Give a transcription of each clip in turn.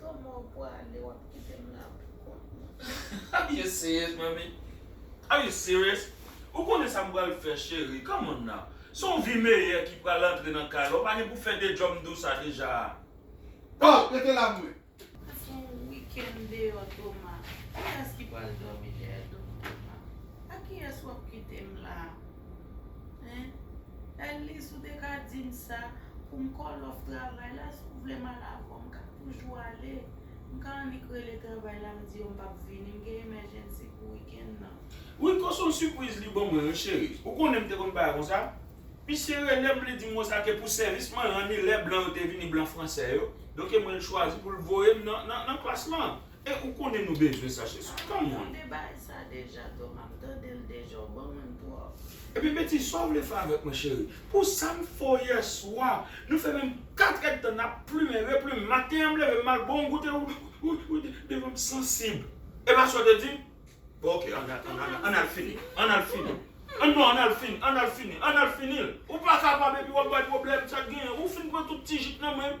Toma ou pwale wap kitem la pou kont mwen. Are you serious manmi? Are you serious? Ou konnen sa m pral fè cheri come on now Se yon vi meyè ki pral antre nan kay la ou pa gen pou fè de djòm dou sa deja a Bon rete la mwen. Sa se yon weekend deyò Toma. Kiyès ki pral dòmi dèyè do m Toma? Akiyès wap kitem la? Hein Ellis ou te ka dim sa pou m call off travay la si w vle m al avè w m ka toujou ale m ka annik rele travay la m di yo m pap vini m gen emergency pou weekend nan. Rico son sipriz li ban mwen wi cheri ou konnen m te konn bay konsa misye rele m li di m konsa ke pou sèvis mwen ranni lè blan yo te vini blan fransè yo donke mwen l chwazi pou l voye m nan nan nan klas lan E ou konnen nou bezwen sa jezi. Come on. Tande baay sa deja Toma m tandel deja ou bon moun trop. Epi Betty sa w vle fè avèk mwen cheri? Pou sa m fè w yèswa Nou fè menm 4 èd tan nap plumen, replumen Maten an m leve m al bon goute Ou devan m sansib E pa sa w te di m? Bon ok an an al fini An al fini An non an al fini An al fini An al fini l Ou pa kapab epi w ap bay pwoblèm Sa k genyen Ou fin pran tout ti jit nan men m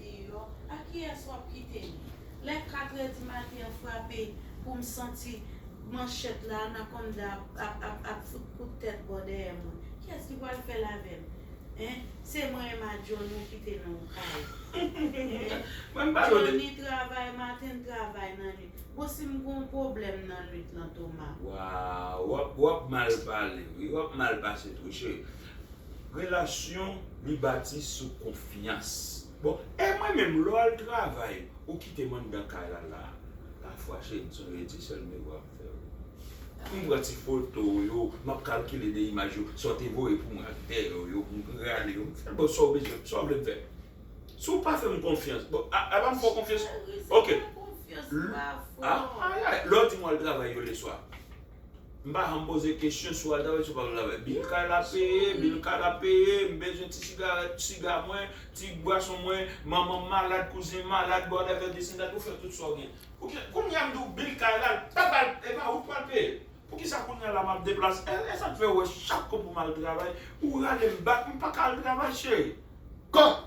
Deyò, a kiyès w ap kite li? Lè katrè di maten an frape pou m santi manchèt la, anakonda a ap fout kout tèt bò dèyè mwen, kiyès ki pral fè l avè m? Hein? Se mwen e Madjo nou kite nan yon kay. Hein? Jhonny travay maten, l travay nan nuit. Bon si m gen yon pwoblèm nan nuit lan Toma? Waww, w ap mal pale wi, w ap mal pase tou cheri. Relasyon li bati sou konfyans. Bon e mwen menm lè w al travay ou kite m anndan kay la la a pafwa cheri m sonje ti sèl m yo ap fè w m pran ti foto w yo m ap kalkile de imaj yo sa w te voye pou mwen ak dèyè w yo pou m rale yo m fè l ba w sa w bezwen sa w vle m fè si w pa fè m konfyans bon a a pa m fè w konfyans ok lè w di m w al travay yo leswa. M pa janm poze kesyon sou Alta paske se pa m travay. Bil kay la peye, bil kay la peye, m bezwen ti sigarèt, ti siga mwen, ti bwason mwen, manman m malad, kouzen m malad, bò dèyè m ap desann dat ou fè tout sa w gen. Poukisa kounye a m di w bil kay la l pa pral e pa ou k pral peye l? Poukisa kounye a la m ap deplase e e sa k fè ou wè chak kou pou m al travay ou rale m bak m pa ka al travay cheri? Kòt!